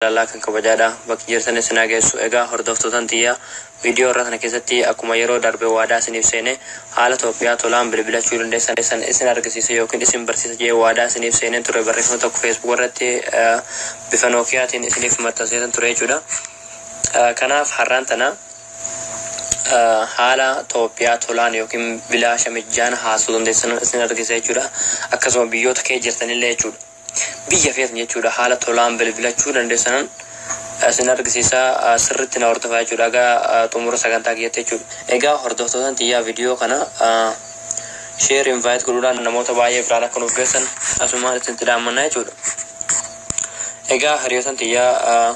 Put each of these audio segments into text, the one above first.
Jaalalaa kan kabajaadha bakki jirtan issin haa geessu egaa hordoftootan tiyya video irra kana keessatti akkuma yeroo darbe waadaa isiniif seene haala tophiyaa tolaan bilbilachuu dandeessan issin argisiisa yookiin issin barsiisa jedhee waadaa isiniif seeneen ture barreeffama tokko facebook irratti bifa nookiyaatiin isiniif maxxanseetan ture jechuudha kanaaf har'aan tana haala tophiyaa tolaan yookiin bilaasha mijjaan haasuu dandeessan issin argisiisa jechuudha akkasuma biyyoota kee jirtanillee jechuudha Biyya feetan jechuudha haala tolaan bilbilachuu dandeessanan isin argisiisa sirritti na hordofaa jechuudha aga xumura sagantaa kiyyatti jechuudha. Egaa hordoftootan tiyyaa video kana share invite godhuudhaan namoota baay'ee biraan akka nuuf geessan asumaan isinitti dhaammanna jechuudha. Egaa hiriyootan tiyyaa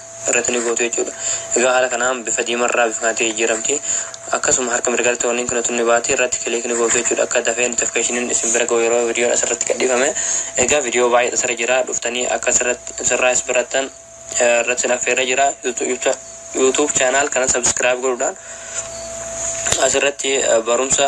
irratti ni gootu jechuudha. Egaa haala kanaan bifa diimarraa bifa kanatti jijjiiramti. Akkasuma harka mirgaatti warniin kun tun ni baati irratti kiliik ni gootu jechuudha. Akka dafee notificationin isin bira ga'u yeroo vidiyoon asirratti gadhiifame. Egaa vidiyoo baay'eetu asirra jira. Dhuftanii akka asirratti sirraa is barattan irratti sin affeerra jira. YouTube channel kana subscribe godhuudhaan asirratti barumsa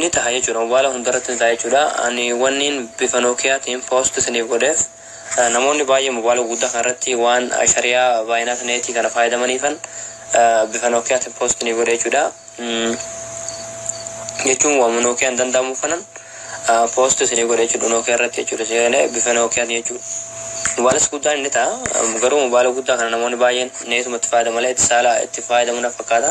Ni taha jechuudha mobaala hundarratti ni taha jechuudha ani wanniin bifa nookiyaatiin post isiniif godheef namoonni baay'ee mobaala guguddaa kana irratti waan shariyaa baayinaat neetii kana faayadamaniifan bifa nookiyaatiin post ni godhe jechuudha jechuun waama nookiyaan danda'amu kanan post isiniif godhe jechuudha nookiyaa irratti jechuudha seenee bifa nookiyaatiin jechuudha mobaalas guddaan inni ta'a garuu mobaala guddaa kana namoonni baay'een neetumatti faayadama malee itti saala itti faayadamu na fakkaata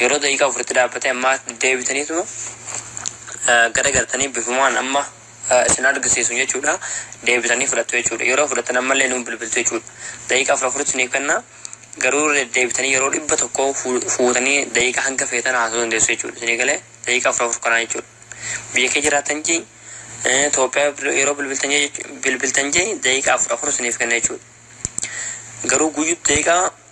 Yeroo daqiiqaa afuritti dhaabbate ammaa deebitaniituma garagartanii bifumaan amma isin argisiisu jechuudha. Deebitanii fudhattu jechuudha. Yeroo fudhattan ammallee nuun bilbiltu jechuudha. Daqiiqaa afur afuritti isiniif kenna. Garuu deebitanii yeroo dhibba tokko fuutanii daqiiqaa hanga feetan haasa'uu dandeessu jechuudha. Isinii galee daqiiqaa afur afur kanaa jechuudha. Biyya kee jiraatan jee Itoophiyaa yeroo bilbiltan jee daqiiqaa afur afur isiniif kenna jechuudha. Garuu guyyuutti daqiiqaa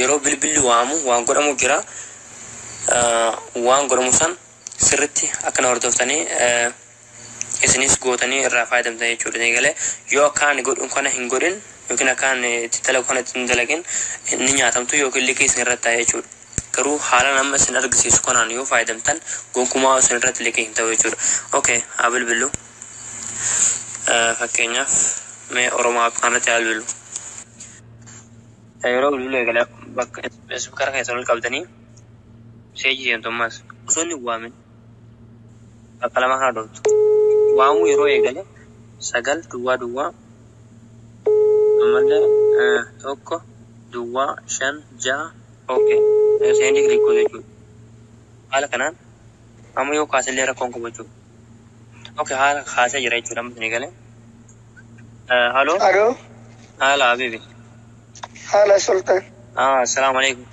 yeroo bilbilli waamu waan godhamu jira waan godhamu san sirritti akkana hordoftanii isinis gootanii irraa fayyadamtan jechuudha ni galee yoo akka ani godhun kana hin godhin yookiin akka ani itti dalagu kana itti hin dalagin ni nyaatamtu yookiin liqii isin irratti ta'a jechuudha. Garuu haalaan amma isin argisiisu kanaan yoo fayyadamtan gonkumaa isin irratti liqii hin ta'u jechuudha. Okay, haa bilbillu. Fakkeenyaaf mee Oromoo App kanarratti haa bilbilu. Yeroo bilbiluu eegalee bakka ispikara keessan ol qabdanii seejii seentu ammas osoo inni waamin bakka lama kana dhooftu. Waamuu yeroo eegale sagal duwwaa duwwaa ammallee tokko duwwaa shan ja'a ookee seendii kiliik godhu jechuudha. Haala kanaan amma yoo kaasillee rakkoon qabu jechuudha. Okay haala kaasee jira jechuudha amma isinii galee. Eh, Haloo Alo, haala habibi. haala Sultan. Ah, assalaamu alaikum.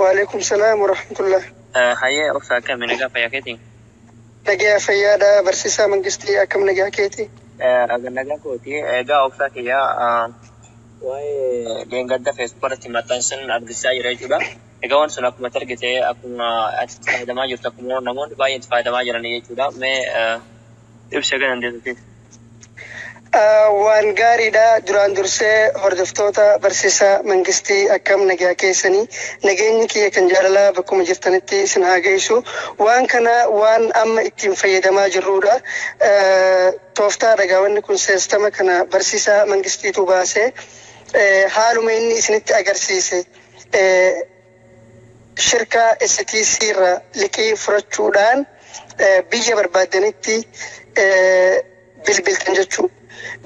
Waalaikum salaam wa rahmatullah. Eh, Hayyee obsa akkami nagaa fayyaa keetii? Nagaa fayyaadha barsiisaa mangistii akkam nagaa keeti? Eh, Aga nagaa kooti. Egaa obsaa kiyyaa ah, waa'ee dheengadda feesbuuk irratti maxxansan argisiisaa jira jechuudha. Egaa wanti sun akkuma itti argite akkuma ati itti fayyadamaa jirtu akkuma namoonni baay'een itti fayyadamaa jiranii jechuudha. Mee ibsi akka dandeessutti. Waan gaariidha duraan dursee hordoftoota barsiisa mangistii akkam nagyaa keessanii nageenyi kiyya kan jaalalaa bakkuma jirtanitti isin haa ga'isu waan kana waan amma ittiin fayyadamaa jirruudha tooftaa dhagaawanni kun seestama kana barsiisa mangistiitu baasee haaluma inni isinitti agarsiise shirkaa STC irra liqii furachuudhaan biyya barbaaddanitti bilbiltan jechuu.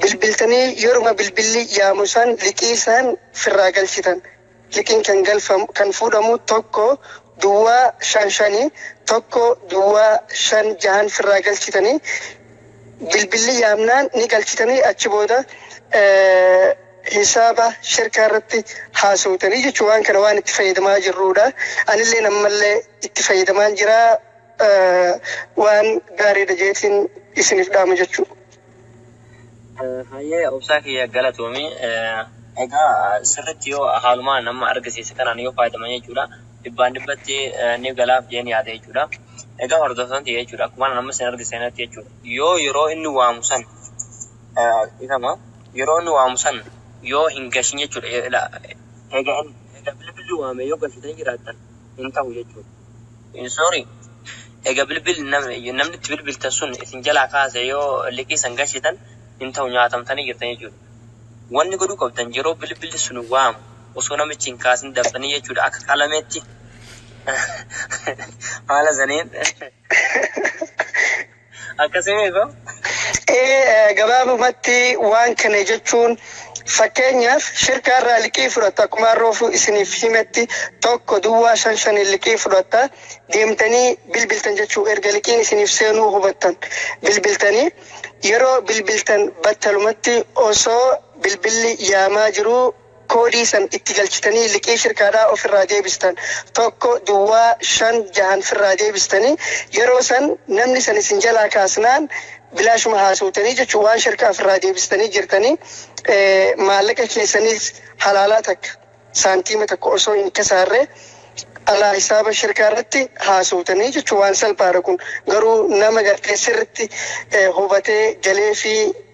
Bilbiltanii yeruma bilbilli yaamu san liqii san firraa galchitan. Liqiin kan galfamu kan fuudhamu tokko duwwaa shan shani tokko duwwaa shan jahan firraa galchitanii bilbilli yaamnaan ni galchitanii achi booda hisaaba shirkaa irratti haasawtanii jechuun waan kana waan itti fayyadamaa jirruudha. Anilleen ammallee itti fayyadamaan jira waan gaariidha jeetiin isiniif dhaama jechuudha. Hayyee obsaa kiyya galatoomi. Egaa sirriitti yoo haalumaa nama argisiise kanaan yoo fayyadaman jechuudha dhibbaan dhibbatti ni galaaf jeen yaada jechuudha. Egaa hordoftoonni ta'e jechuudha akkuma nama sin argisiisetti jechuudha yoo yeroo inni waamu san Dhiifama yeroo inni waamu san yoo hin gashin jechuudha eega eega bilbilli waame yoo gashitanii jiraattan hin tahu jechuudha. Sorry eega bilbilli namni itti bilbiltan sun isin jalaa kaase yoo liqii san gashitan hin tahu nyaatamtanii jirtan jechuudha. Wanni godhuu qabdan yeroo bilbilli sun waamu osoo namichi hin kaasin daftanii jechuudha akka qalameetti haala saniin. Akkasii miidha. Ee gabaabumatti waan kana jechuun fakkeenyaaf shirkaa irraa liqii fudhatta akkuma arroofuu isiniif himetti tokko duwwaa shan shaniin liqii fudhatta deemtanii bilbiltan jechuu erga liqiin isiniif seenuu hubattan bilbiltanii yeroo bilbiltan battalumatti osoo bilbilli yaamaa jiruu koodii san itti galchitanii liqii shirkaadhaa of irraa deebistan 1 duwwaa 5 jahan firraa deebistanii yeroo san namni san isin jalaa kaasnaan bilaashuma haasowtanii jechu waan shirkaa firraa deebistanii jirtanii maallaqa keessaniis halaalaa takka saantiima takka osoo hin kasaarre alaa hisaaba shirkaa irratti haasowtanii jechu waan salphaadha kun garuu nama gartee sirritti hubatee galee fi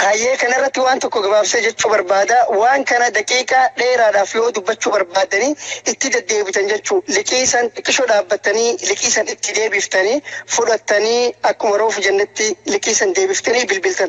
Hayyee kana irratti waan tokko gabaabsee jechuu barbaada. Waan kana daqiiqaa dheeraadhaaf yoo dubbachuu barbaaddanii itti deddeebitan jechuu liqii san xiqqishoo dhaabbattanii liqii san itti deebiftanii fudhattanii akkuma roofu jennetti liqii san deebiftanii bilbiltan.